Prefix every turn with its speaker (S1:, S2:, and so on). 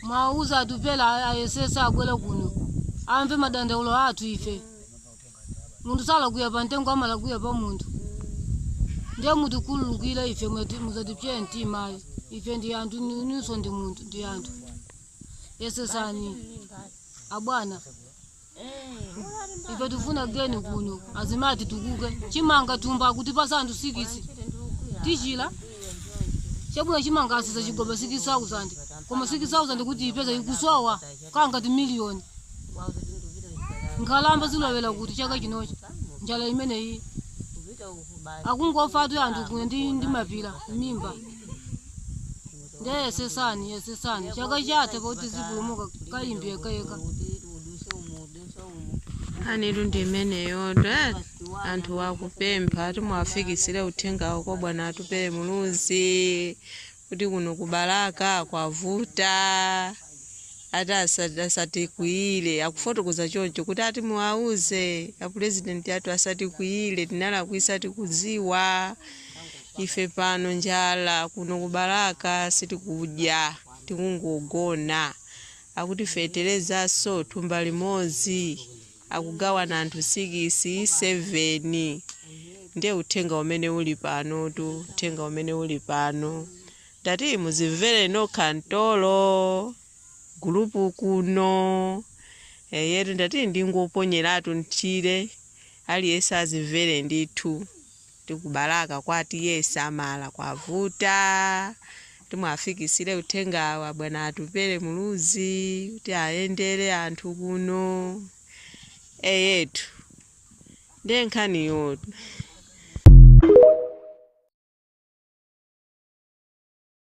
S1: Muwauze Atupele ayesetse abwere kuno amve madandaulo athu ife. Munthu salakwira mtengo amalakwira pa munthu. Ndiye mutikhululukire ife musatipseye mtima ayi. Ife ndi anthu inunso ndi munthu ndi anthu. Yesetsani abwana. ife tifuna geni kuno azimati tukuke chimanga thumba kutipatsa anthu sikisi tichila chabwino chimanga atsitsa chigoba 6000 koma 6000 kuti ipezeke ikusowa kangati ndi miliyoni nkhalamba zilowera kuti chaka chinocho njala imeneyi akungofatu anthu kuno ndi mapira mimba nde yesetsani yesetsani chaka chathe
S2: poti zipulumuka kayimbi yekayeka nkhanitu ndi imeneyo dad anthu akupempha ati muwafikisire uthengawo kwa bwana atupere muluzi kuti kuno ku Balaka kwavuta ati asa- asatikwiyire akufotokoza choncho kuti ati muwauze apurezidenti athu asatikwiyire tinalakwitsa tikudziwa Ife pano njala kuno ku Balaka sitikudya tikungogona. Akuti fetelezanso thumba limodzi akugawana anthu sikisi, seveni. Ndiye uthenga umene uli panotu, uthenga umene uli pano. Ndati muzimvere nokha mtolo gulupu kuno. Eyetu ndati ndingoponyeratu m'tchire aliyense azimvere ndithu. Ndi ku Balaka kwa TA Nsamala kwavuta ati muwafikisile uthengawu kwa bwana Atupele Muluzi kuti ayendele anthu kuno eyetu nde nkhaniyotu.